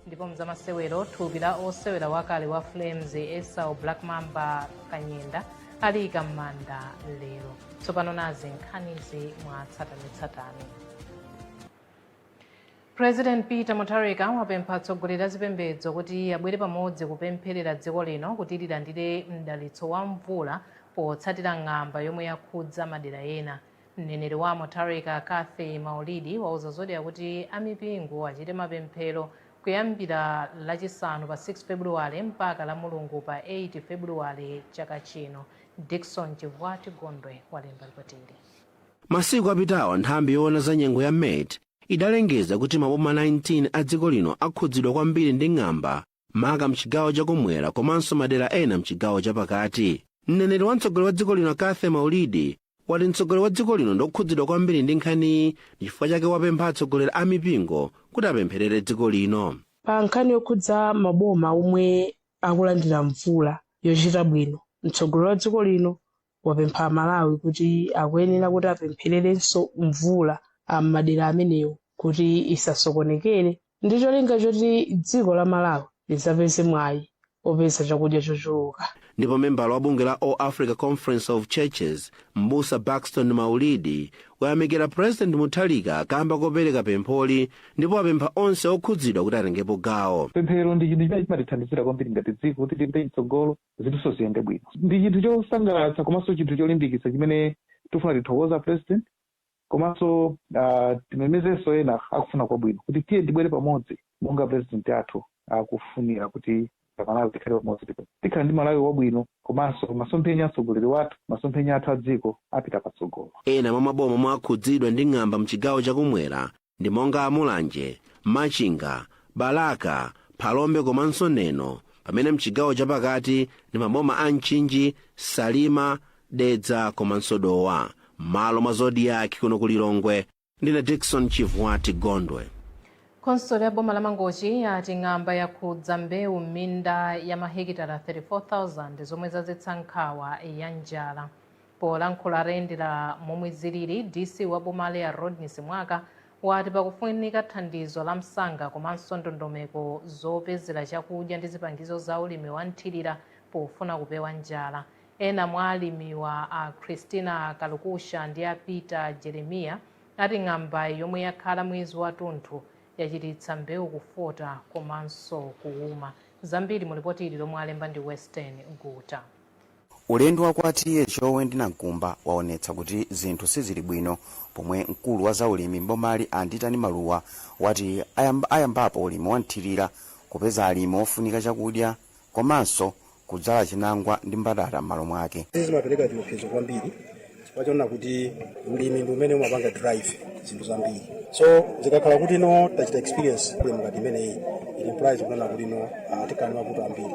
ndipo mzamasewero thupi la osewera wakale wa flames esau black mamba kanyenda aliika m'manda lero tsopano nazi nkhanizi mwa tsatanetsatane president peter mutharika wapempha atsogoleri a zipembedzo kuti abwere pamodzi kupempherera dziko lino kuti lilandire mdalitso wa mvula potsatira ng'amba yomwe yakhudza madera ena Mneneri wa Mutharika, Cathy Maulidi, wauza Zodiak kuti a mipingo achite mapemphero kuyambira Lachisanu pa 6 Febuluwale mpaka Lamulungu pa 8 Febuluwale chaka chino. Dickson Chivwati Gondwe walemba lipotili. Masiku apitawa nthambi yoona za nyengo ya met idalengeza kuti maboma 19 a dziko lino akhudzidwa kwambiri ndi ng'amba maka mchigawo chakumwera komanso madera ena mchigawo chapakati mneneri wa mtsogoleri wa dziko lino cathy maulidi wati mtsogoleri wa dziko lino ndokhudzidwa kwambiri ndi nkhaniyi nchifukwa chake wapempha atsogoleri a mipingo kuti apempherere dziko lino pa nkhani yokhudza maboma omwe akulandira mvula yochita bwino mtsogoleri wa dziko lino wapempha amalawi kuti akuyenera kuti apemphererenso mvula am'madera amenewo kuti isasokonekere ndi cholinga choti dziko la malawi lizapeze mwayi opeza chakudya chochuluka ndipo membala wa bungwe la all africa conference of churches mbusa baxton maulidi wayamikira president mutharika kamba kopereka pempholi ndipo apempha onse okhudzidwa kuti atengepo gawo pemphero ndi chinthu chimene chimatithandizira kwambiri ngati dziko kuti tipite mtsogolo zinthunso ziyende bwino. Ndi chinthu chosangalatsa komanso chinthu cholimbikitsa chimene tifuna tithokoze a president komanso ah, timemezenso ena akufuna kwabwino kuti tiyeni tibwere pamodzi monga president athu akufunira kuti amalawi tikhale pamodzi ndipo tikhala ndi malawi wabwino komanso masomphenya a mtsogoleri wathu masomphenya athu a dziko apita patsogolo Ena mwa maboma omwe akhudzidwa ndi ng'amba mchigawo chakumwera ndi monga a Mulanje, Machinga, Balaka, Phalombe komanso Neno pamene mchigawo chapakati ndi maboma a Mchinji, Salima, Dedza komanso Dowa. M'malo mwa Zodiak kuno ku Lilongwe ndine Dickson Chivwati Gondwe. khonsolo ya boma la mangochi yati ng'amba yakhudza mbewu m'minda ya mahekitala 34,000 zomwe zadzetsa nkhawa ya njala Polankhula atayendera momwe zilili, DC wa bomali a Rodney Simwaka wati pakufunika thandizo la msanga komanso ndondomeko zopezera chakudya ndi zipangizo za ulimi wa mthilira pofuna kupewa njala. Ena mwa alimiwa a Christina Kalukusha ndi a Peter Jeremiah ati ng'ambayi yomwe yakhala mwezi watunthu yachititsa mbewu kufota komanso kuwuma. Zambiri mu lipoti ili lomwe alemba ndi Western Guta. Ulendo wa kwa TA Chowe ndi Nankumba waonetsa kuti zinthu sizili bwino pomwe mkulu wa zaulimi m'bomali a Nditani Maluwa wati ayambapo ulimi wa mthilira, kupeza alimi ofunika chakudya komanso kudzala chinangwa ndi mbatata m'malo mwake. Izi zimapeleka chiopsezo kwambiri chifukwa chonena kuti ulimi ndi umene umapanga drive zinthu zambiri so zikakhala kuti no tachita experience problem ngati imeneyi it implies kunena kuti no ah, tikhala ndi mavuto ambiri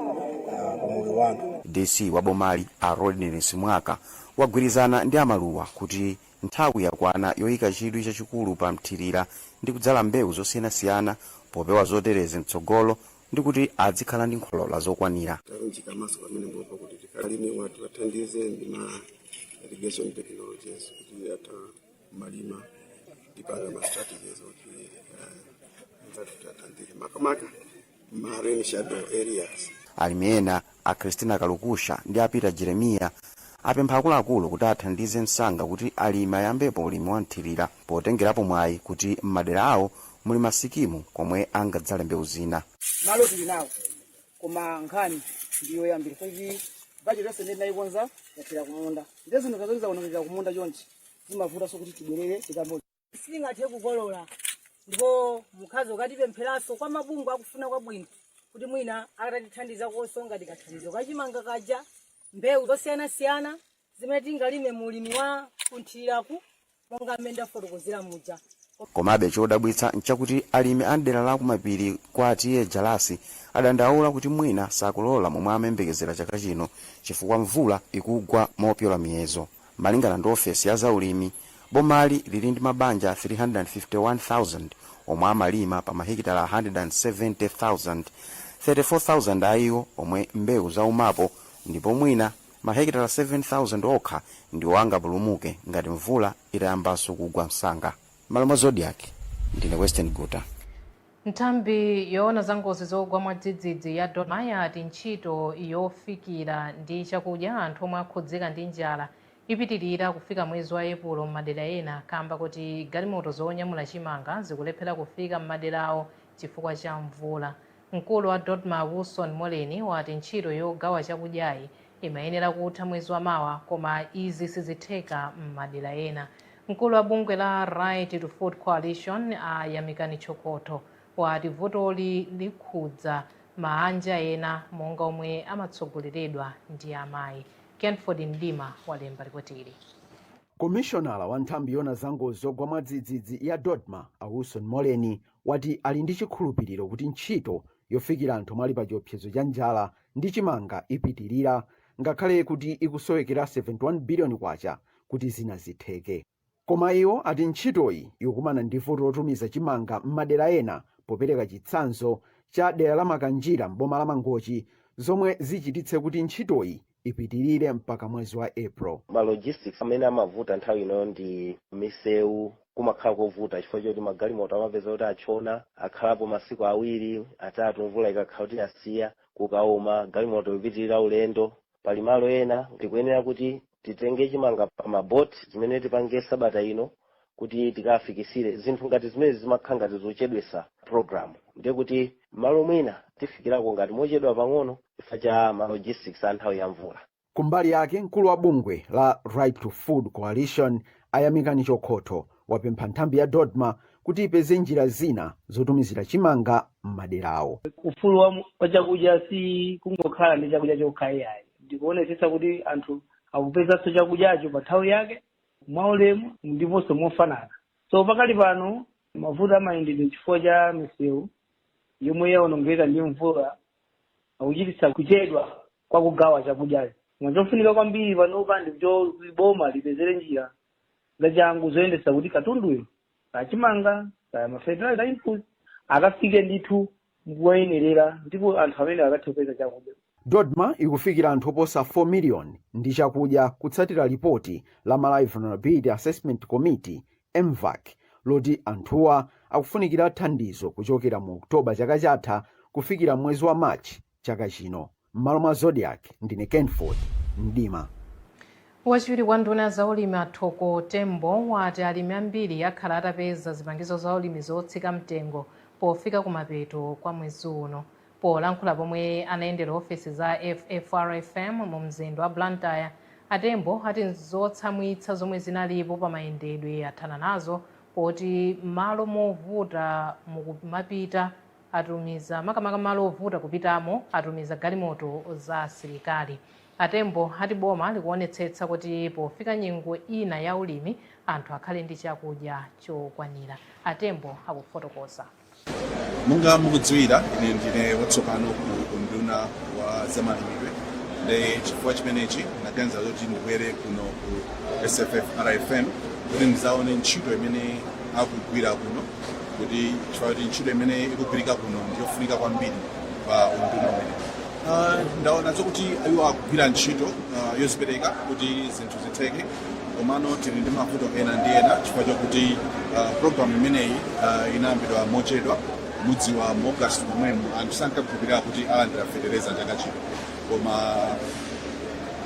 ah, pa moyo wa anthu dc wa bomali a Rodney Simwaka wagwirizana ndi a Maluwa kuti nthawi yakwana yoyika chidwi chachikulu pa mthirira ndi kudzala mbewu zosiyanasiyana popewa zoterezi mtsogolo ndi kuti adzikhala ndi zokolola zokwanira talunjika maso pamenepo kuti alimi athu tiwathandize ndi ma irrigation technologies kuti atamalima tipanga ma strategies kuti anzathu tiwathandize makamaka ma rain shadow areas alimi ena A Christina Kalukusha ndi a Peter Jeremia apempha akuluakulu kuti athandize msanga kuti alimi ayambepo ulimi wa mthilira potengerapo mwayi kuti m'madera awo muli ma sikimu komwe angadzale mbewu zina. malo tili nawo koma nkhani ndiyoyambira kuti bajeti yonse imene tinayikonza yathera kumunda ndiye zinthu zazoti zaonongeka kumunda chonchi zimavutanso kuti tibwerere tikayambo sitingathe kukolola ndipo nkadakonda mukatipempheranso kwa mabungwe akufuna kwabwino kuti mwina atatithandizakonso ngati kathandizo kachimanga kaja mbewu zosiyanasiyana zimene tingalime mu ulimi wa kunthiriraku monga mmene ndafotokozera muja komabe chodabwitsa nchakuti alimi a mdera la kumapiri kwa a TA Jalasi adandaula kuti mwina sakolola momwe amayembekezera chaka chino chifukwa mvula ikugwa mopyola miyezo Malingana ndi ofesi ya za ulimi, bomali lili ndi mabanja 351,000 omwe amalima pa mahekitala 170,000, 34,000 a iwo omwe mbewu zaumapo ndipo mwina mahekitala 7,000 okha ndiwo angapulumuke ngati mvula itayambanso kugwa msanga. M'malo mwa Zodiak, ndine Westen Guta. Nthambi yoona za ngozi zogwa mwadzidzidzi ya DoDMA yati ntchito yofikira ndi chakudya anthu omwe akhudzika ndi njala ipitilira kufika mwezi wa Epulo m'madera ena kamba koti galimoto zonyamula chimanga zikulephera kufika m'maderawo chifukwa cha mvula. Mkulu wa DoDMA Wilson Moleni wati ntchito yogawa chakudyayi imayenera kutha mwezi wa mawa koma izi sizitheka m'madera ena. Mkulu wa bungwe la Right to Food Coalition a Yamikani Chokoto wati vutoli likhudza maanja ena monga omwe amatsogoleredwa ndi amayi. Kenford Mdima walemba lipoti ili. Komishonala wa nthambi yoona za ngozi zogwa mwadzidzidzi ya DoDMA a Wilson Moleni wati ali ndi chikhulupiriro kuti ntchito yofikira anthu omwe ali pachiopsezo cha njala ndi chimanga ipitirira ngakhale kuti ikusowekera K71 biliyoni kuti zina zitheke. Koma iwo ati ntchitoyi ikukumana ndi vuto lotumiza chimanga m'madera ena popereka chitsanzo cha dera la Makanjira m'boma la Mangochi zomwe zichititse kuti ntchitoyi ipitirire mpaka mwezi wa April. Ma logistics amene amavuta nthawi ino ndi misewu. kumakhala kovuta chifukwa choti magalimoto amapezeka kuti atchona, akhalapo masiku awiri, atatu mvula ikakhala kuti yasiya, kukauma, galimoto ipitirira ulendo. Pali malo ena tikuyenera kuti titenge chimanga pa ma boat zimene tipange sabata ino kuti tikafikitsire. Zinthu ngati zimene zimakhala ngati zochedwetsa program, ndiye kuti malo mwina tifikirako ngati mochedwa pang'ono chifukwa cha ma logistics a nthawi ya mvula. Kumbali yake, mkulu wa bungwe la Right to Food Coalition, a Yamikani Chokhotho, wapempha nthambi ya Dodma kuti ipeze njira zina zotumizira chimanga m'maderawo. Ufulu wa, wa chakudya si kungokhala ndi chakudya chokha ayi, ndikuonetsetsa kuti anthu akupezanso chakudyacho pa nthawi yake, mwaulemu ndiponso mofanana. So pakali pano mavuto amayendedwe chifukwa cha misewu yomwe yaonongeka ndi mvula akuchititsa kuchedwa kwa kugawa chakudya koma chofunika kwambiri panopa ndi boma lipezere njira zachangu zoonetsetsa kuti katunduyo kaya chimanga kaya ma fertilizer input akafike ndithu kwa oyenerera ndipo anthu amene akathe kupeza chakudya dodma ikufikira anthu oposa 4 miliyoni ndi chakudya kutsatira lipoti la malawi vulnerability assessment committee Mvac, loti anthuwa akufunikira thandizo kuchokera mu October chaka chatha kufikira mwezi wa March chaka chino. M'malo mwa Zodiak, ndine Kenford Mdima. Wachiwiri kwa nduna ya zaulimi a Thoko Tembo wati alimi ambiri akhala atapeza zipangizo zaulimi zotsika mtengo pofika kumapeto kwa mwezi uno. Polankhula pomwe anayendera ofesi za FFRFM mu mzinda wa Blantyre, a Tembo ati zotsamwitsa zomwe zinalipo pa mayendedwe athana nazo poti m'malo movuta mukumapita atumiza makamaka malo ovuta kupitamo atumiza galimoto za asilikali. A Tembo ati boma likuonetsetsa kuti pofika nyengo ina ya ulimi anthu akhale ndi chakudya chokwanira. A Tembo akufotokoza. monga mukudziwira ine ndine watsopano ku unduna wa zamalimidwe ndiye chifukwa chimenechi ndinaganiza zokuti ndibwere kuno ku sffrfm kuti ndidzaone ntchito imene akugwira kuno kuti chifukwa chakuti ntchito imene ikugwirika kuno ndiyofunika kwambiri pa unduna umene Ah, ndaona zokuti iwo akugwira ntchito ah, yozipereka kuti zinthu zitheke komano tili ndi mavuto ena ndi ena chifukwa chakuti uh, programu imeneyi uh, inayambidwa mochedwa mudziwa mu august momwemo anthu sankakhulupirira kuti alandira fetereza chaka chino koma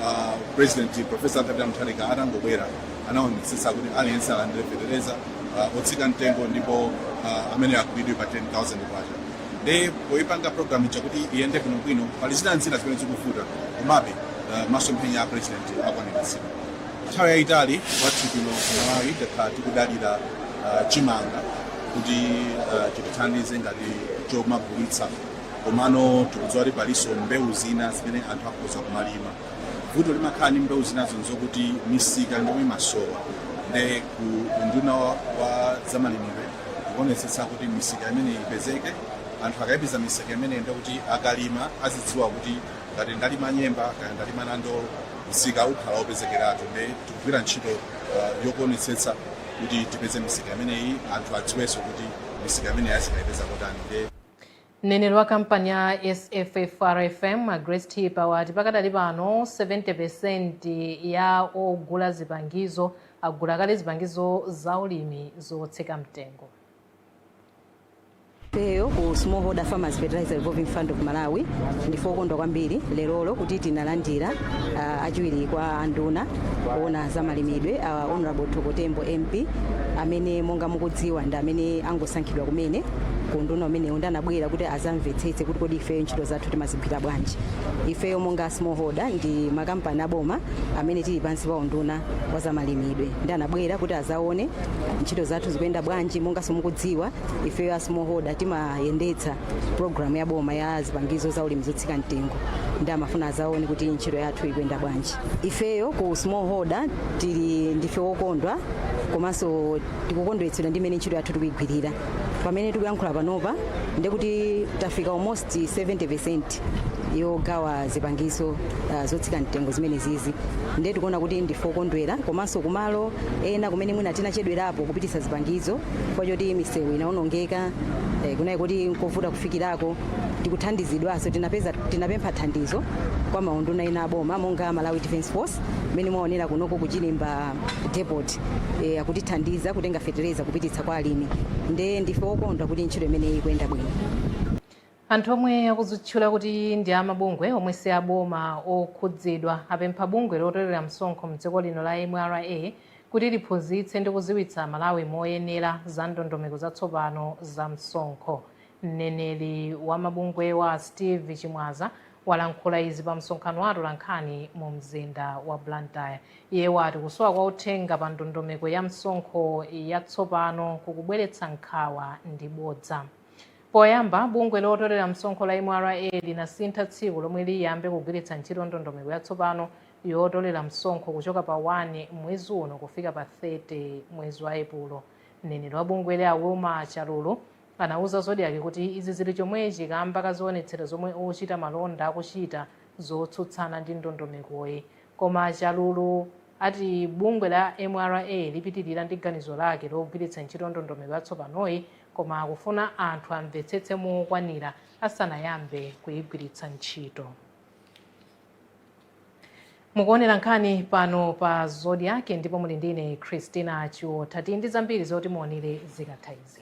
uh, president professor Arthur Mutharika atangobwera anaonetsetsa kuti aliyense alandire fetereza uh, otsika mtengo ndipo uh, amene akugulidwa pa 10000 kwacha nde poyipanga program ija kuti iyende bwinobwino pali zina ndi zina zimene zikuvuta komabe uh, masomphenya a president akwaniritsidwa nthawi yayitali kwathu kuno ku malawi takhala tikudalira uh, chimanga kuti uh, chitithandize ngati chomagulitsa komano tikudziwa kuti palinso mbewu zina zimene anthu akhoza kumalima vuto limakhala ndi mbewu zinazo nzokuti misika ndi imene imasowa nde ku unduna wa- wa zamalimidwe tikuonetsetsa kuti misika imeneyi ipezeke anthu akayipeza misika imeneyi ndekuti akamalima azidziwa kuti ngati ndalima nyemba kaya ndalima nandolo msika ukhala wopezekeratu nde tikugwira ntchito uh, yokuonetsetsa kuti tipeze misika imeneyi anthu adziwenso kuti misika imeneyi azikayipeza kotani nde Mneneri wa kampani ya SFFRFM, a Grace Thipa, wati pakadali pano 70% ya ogula zipangizo agula kale zipangizo za ulimi zotsika mtengo. Ifeyo ku Smallholder Farmers Fertilizer Revolving Fund of Malawi ndife okondwa kwambiri lerolo kuti tinalandira uh, achiwiri kwa anduna oona za malimidwe uh, Honorable Thoko Tembo MP amene monga mukudziwa ndi amene angosankhidwa kumene ku unduna umenewu nde anabwera kuti azamvetsetse kuti kodi ifeyo ntchito zathu timazigwira bwanji ifeyo monga smallholder ndi kampani yaboma amene tili pansi pa unduna wa zamalimidwe nde anabwera kuti azaone ntchito zathu zikuyenda bwanji monganso mukudziwa ifeyo a smallholder timayendetsa programu ya boma ya zipangizo za ulimi zotsika mtengo nde amafuna azaone kuti ntchito yathu ikuyenda bwanji ifeyo ku smallholder tili ndife wokondwa komanso tikukondweretsedwa ndi mmene ntchito yathu tikuyigwirira pamene tikuyankhula panopa ndekuti tafika almost 70% yogawa zipangizo uh, zotsika mtengo zimenezizi ndiye tikuona kuti ndife okondwera komanso kumalo ena kumene mwina tinachedwerapo kupititsa zipangizo chifukwa choti misewu inaonongeka eh, kunali kuti nkovuta kufikirako tikuthandizidwanso tinapeza tinapempha thandizo kwa maunduna ena aboma monga malawi defense force mmene mwaonera kunoko ku chirimba depot e, akutithandiza kutenga fetereza kupititsa kwa alimi nde ndife okondwa kuti ntchito imeneyi ikuyenda bwino anthu omwe akuzitchula kuti ndi amabungwe omwe si aboma okhudzidwa apempha bungwe lotolera msonkho mdziko lino la mra kuti liphunzitse ndi kuziwitsa amalawi moyenera za ndondomeko zatsopano za msonkho mneneri wa mabungwewa steve chimwaza walankhula izi pa msonkhano wa atolankhani mu mzinda wa blantyre Iye wati kusowa kwa uthenga pa ndondomeko ya msonkho ya tsopano kukubweretsa nkhawa ndi bodza. Poyamba, bungwe lotolera msonkho la mra linasintha tsiku lomwe liyambe kugwiritsa ntchito ndondomeko ya tsopano yotolera msonkho kuchoka pa 1 mwezi uno kufika pa 30 mwezi wa Epulo. Mneneri wa bungweli a Wilma Chalulu anauza Zodiak kuti izi zili chomwechi kamba ka zionetsero zomwe ochita malonda akuchita zotsutsana ndi ndondomekoyi. Koma a Chalulu ati bungwe la mra lipitilira ndi ganizo lake logwiritsa ntchito ndondomeko yatsopanoyi koma akufuna anthu amvetsetse mokwanira asanayambe kuyigwiritsa ntchito. Mukuonera nkhani pano pa Zodiak ndipo muli ndi ine Christina Chiotha. Tili ndi zambiri zoti muonere zikatha izi.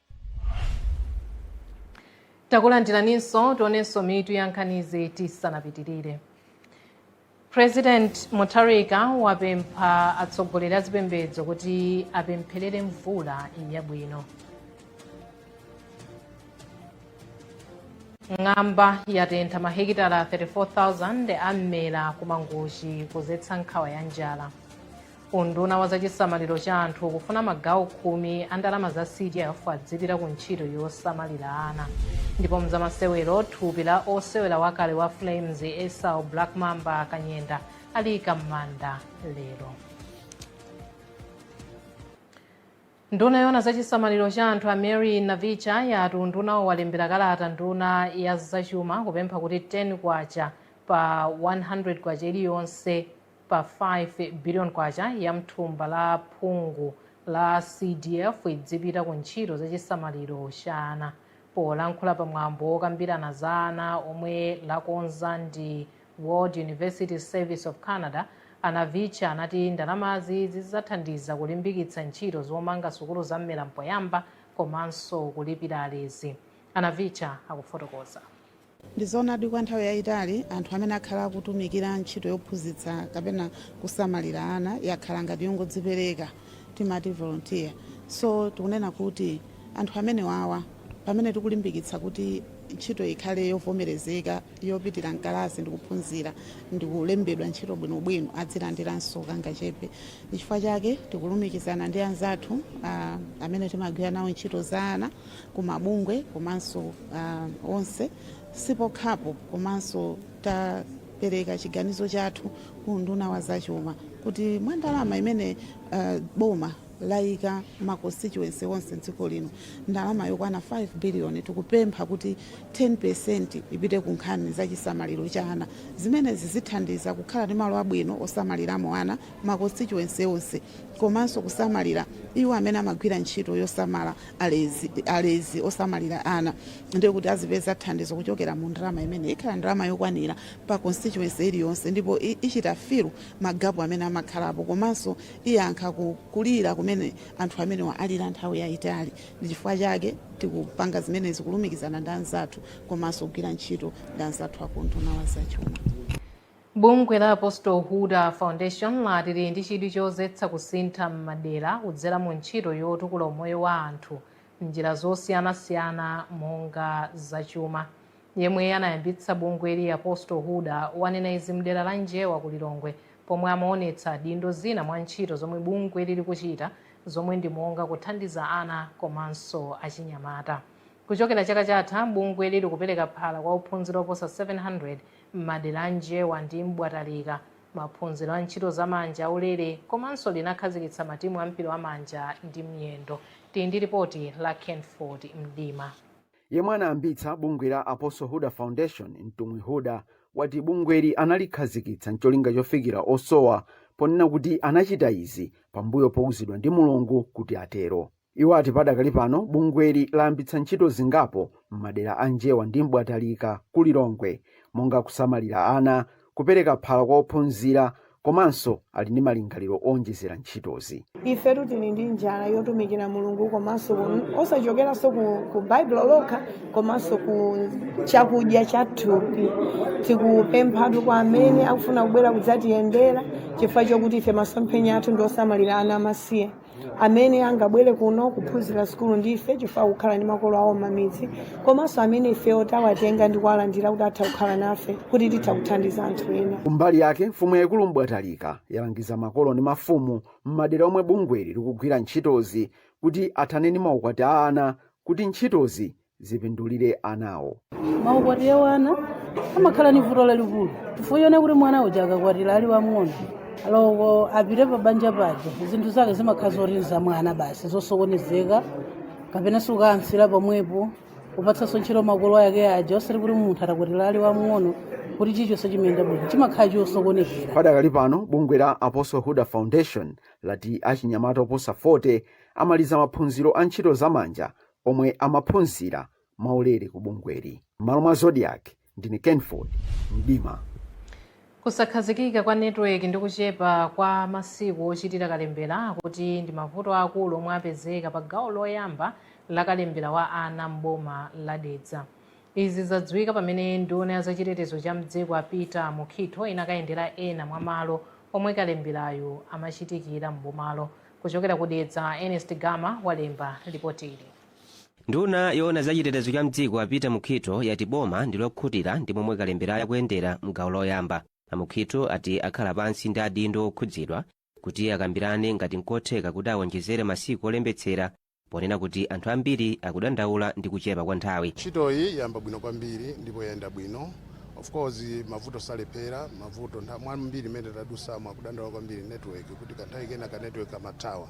takulandiraninso tionenso mitu ya nkhanizi tisanapitirire president mutharika wapempha atsogoleri a zipembedzo kuti apempherere mvula yabwino ng'amba yatentha mahekitala 34,000 a mmera ku Mangochi kudzetsa nkhawa ya njala Unduna wa zachisamaliro cha anthu ukufuna magawo khumi a ndalama za CDF azipita ku ntchito yosamalira ana. Ndipo mzamasewero thupi la osewera wakale wa Flames Esau Black Mamba Kanyenda aliyika m'manda lero. Nduna yoona za chisamaliro cha anthu a Mary Navicha yati undunawo walembera kalata nduna ya zachuma kupempha kuti 10 kwacha pa 100 kwacha iliyonse pa 5 biliyoni kwacha ya m'thumba la phungu la CDF izipita ku ntchito za chisamaliro cha ana. Polankhula pa mwambo wokambirana za ana omwe lakonza ndi World University Service of Canada, a Navicha anati ndalamazi zizathandiza kulimbikitsa ntchito zomanga sukulu za Mmera Mpoyamba komanso kulipira alezi. A Navicha akufotokoza. Ndi zoonadi kwa nthawi yaitali, anthu amene akhala akutumikira ntchito yophunzitsa kapena kusamalira ana yakhala ngati yongodzipereka, timati volontiya. So tikunena kuti anthu amenewawa pamene tikulimbikitsa kuti ntchitoyi ikhale yovomerezeka yopitira m'kalasi ndi kuphunzira ndi kulembedwa ntchito bwinobwino azilandiranso kangachepe. Nchifukwa chake tikulumikizana ndi anzathu amene timagwira nawo ntchito za ana. kumabungwe komanso uh, onse sipokhapo komanso tapereka chiganizo chathu ku unduna wa zachuma kuti mwa ndalama imene uh, boma layika ma constituency onse mdziko lino ndalama yokwana 5 biliyoni tikupempha kuti 10% ipite ku nkhani za chisamaliro cha ana zimenezi zithandiza kukhala ndi malo abwino osamaliramo ana ma constituency onse komanso kusamalira iwo amene amagwira ntchito yosamala alezi, alezi osamalira ana ndiye kuti azipeza thandizo kuchokera mu ndalama imene ikhala ndalama yokwanira pa constituency iliyonse ndipo i- ichita filu magapu amene amakhalapo komanso iyankha ku- kulira kumene anthu amenewa alira nthawi yayitali ndi chifukwa chake tikupanga zimenezi kulumikizana ndi anzathu komanso kugwira ntchito ndi anzathu akunduna wa zachuma Bungwe la Apostle Huda Foundation lati lili ndi chidwi chodzetsa kusintha m'madera kudzera mu ntchito yotukula umoyo wa anthu m'njira zosiyanasiyana monga za chuma. Yemwe anayambitsa bungweli Apostle Huda wanena izi mdera la Njewa ku Lilongwe pomwe amaonetsa adindo zina mwa ntchito zomwe bungweli likuchita zomwe ndi monga kuthandiza ana komanso achinyamata. Kuchokera chaka chatha, bungweli likupereka phala kwa ophunzira oposa 700. M'madera a Njewa ndi M'bwatalika, maphunziro a ntchito za manja aulere komanso linakhazikitsa matimu a mpira wa manja ndi miyendo. Tili ndi lipoti la Kenford Mdima. Yemwe anayambitsa bungwe la Apostle Huda Foundation, Mtumwi Huda, wati bungweli analikhazikitsa n'cholinga chofikira osowa ponena kuti anachita izi pambuyo pouzidwa ndi Mulungu kuti atero. Iwo ati padakali pano bungweli layambitsa ntchito zingapo m'madera a Njewa ndi M'bwatalika ku Lilongwe monga kusamalira ana, kupereka phala kwa ophunzira komanso ali ndi malingaliro owonjezera ntchitozi. Ifetu tili ndi njala yotumikira Mulungu komanso ku- osachokeranso ku, ku Baibulo lokha komanso ku chakudya cha thupi. Tikupemphatu kwa amene akufuna kubwera kudzatiyendera chifukwa chokuti ife masomphenya athu ndi osamalira ana amasiye. amene angabwere kuno kuphunzira sukulu ndife chifukwa kukhala ndi makolo awo m'mamidzi komanso amene ifewo tawatenga ndi kuwalandira kuti atha kukhala nafe kuti titha kuthandiza anthu ena kumbali yake mfumu yaikulu mbwatalika yalangiza makolo ndi mafumu m'madera omwe bungweli likugwira ntchitozi kuti athane ndi maukwati a ana kuti ntchitozi zipindulire anawo maukwati a wana amakhala ni vuto lalikulu chifukwa choona kuti mwana uja akakwatira ali wamng'ono oloko apite pa banja paja zinthu zake zimakhala zorinza mwana basi zosokonezeka kapena sukayansira pomwepo kupatsanso ntchito makolo ake aja osati kuti munthu atakwatira ali wamng'ono kuti chichonse chimayenda bwino chimakhala chosokonokera padakali pano bungwe la apostle huda foundation lati achinyamata oposa 40 amaliza maphunziro a ntchito zamanja omwe amaphunzira mwaulere ku bungweli. M'malo mwa Zodiak, ndine Kenford Mdima. Kusakhazikika kwa network ndi kuchepa kwa masiku ochitira kalembera akuti ndi mavuto aakulu omwe apezeka pa gawo loyamba la kalembera wa ana m'boma la Dedza. Izi zadziwika pamene nduna ya zachitetezo cha m'dziko a Peter Mukhitho inakayendera ena mwa malo omwe kalemberayu amachitikira m'bomalo. Kuchokera ku Dedza, Ernest Gama walemba lipotili. Nduna yoona za chitetezo cha mdziko a Peter Mukhitho yati boma ndi lokhutira ndi momwe kalemberayu akuyendera mgawo loyamba. A Mukhitho ati akhala pansi ndi adindo okhudzidwa kuti akambirane ngati nkotheka kuti awonjezere masiku olembetsera ponena kuti anthu ambiri akudandaula ndi kuchepa kwa nthawi ntchitoyi yayamba bwino kwambiri ndipo yayenda bwino of course mavuto salephera mavuto mwambiri mmene tadutsamo akudandaula kwambiri network kuti kanthawi kena ka network kamathawa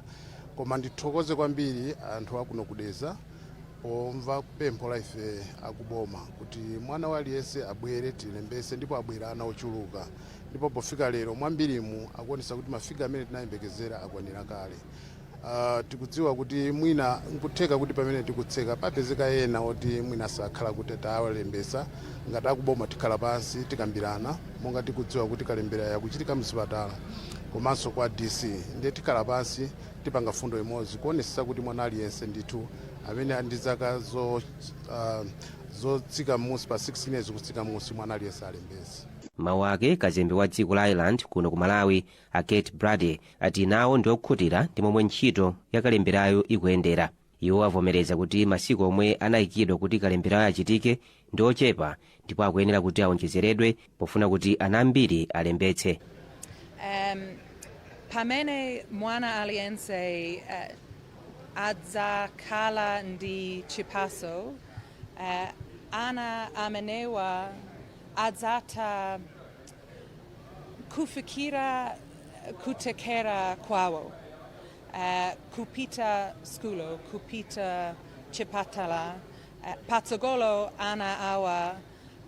koma ndithokoze kwambiri anthu akuno ku Dedza pomva pempho la ife akuboma kuti mwana wa aliyense abwere tilembese ndipo abwera ana ochuluka ndipo pofika lero mwambirimu akuonesa kuti mafiga amene tinayembekezera akwanira kale Uh, tikudziwa kuti mwina nkutheka kuti pamene tikutseka papezeka ena oti mwina sakhala kuti tawalembesa ngati akuboma tikhala pansi tikambirana monga tikudziwa kuti kalemberayu akuchitika mzipatala komanso kwa dc ndiye tikhala pansi tipanga fundo imodzi kuonesesa kuti mwana aliyense ndithu amene ali ndi zaka zo, uh, zotsika m'musi pa 16 years kutsika m'musi mwana aliyense alembese mmawu ake kazembe wa dziko la ireland kuno ku malawi A Kate Brady ati nawo ndi okhutira ndi momwe ntchito ya kalemberayu ikuyendera. Iwo avomereza kuti masiku omwe anayikidwa kuti kalemberayu achitike ndi ochepa ndipo akuyenera kuti awonjezeredwe pofuna kuti ana ambiri alembetse. um, pamene mwana aliyense uh, adzakhala ndi chiphaso uh, ana amenewa adzatha kufikira kuthekera kwawo uh, kupita skulo kupita chipatala uh, patsogolo ana awa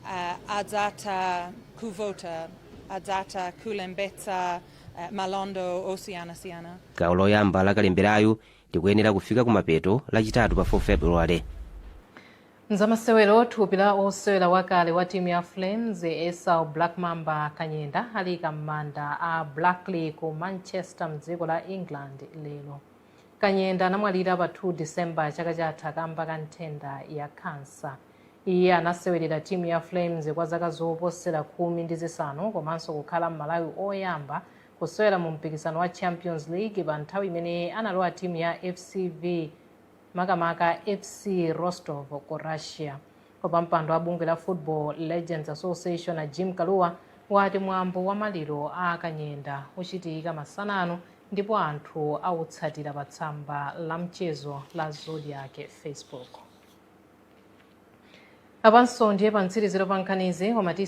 uh, adzatha kuvota adzatha kulembetsa uh, malonda osiyanasiyana gawo loyamba la kalemberayu likuyenera kufika kumapeto lachitatu pa 4 february. Mzamasewero thupi la osewera wakale wa timu ya Flames Esau Black Mamba Kanyenda aliyika m'manda a Blackley ku Manchester mdziko la England lero. Kanyenda anamwalira pa 2 December chaka chatha kamba ka nthenda ya kansa. Iye anasewerera timu ya Flames kwa zaka zoposera khumi ndi zisanu komanso kukhala Mmalawi oyamba Kusewera mu mpikisano wa Champions League pa nthawi imene analowa timu ya FCB makamaka FC Rostov ku Russia. Wapampando wa bungwe la Football Legends Association a Jim Kalua wati mwambo wa maliro a Kanyenda uchitika masana ano ndipo anthu awutsatira pa tsamba la mchezo la Zodiak Facebook. Apanso ndiye pa mtsiriziro pa nkhanizi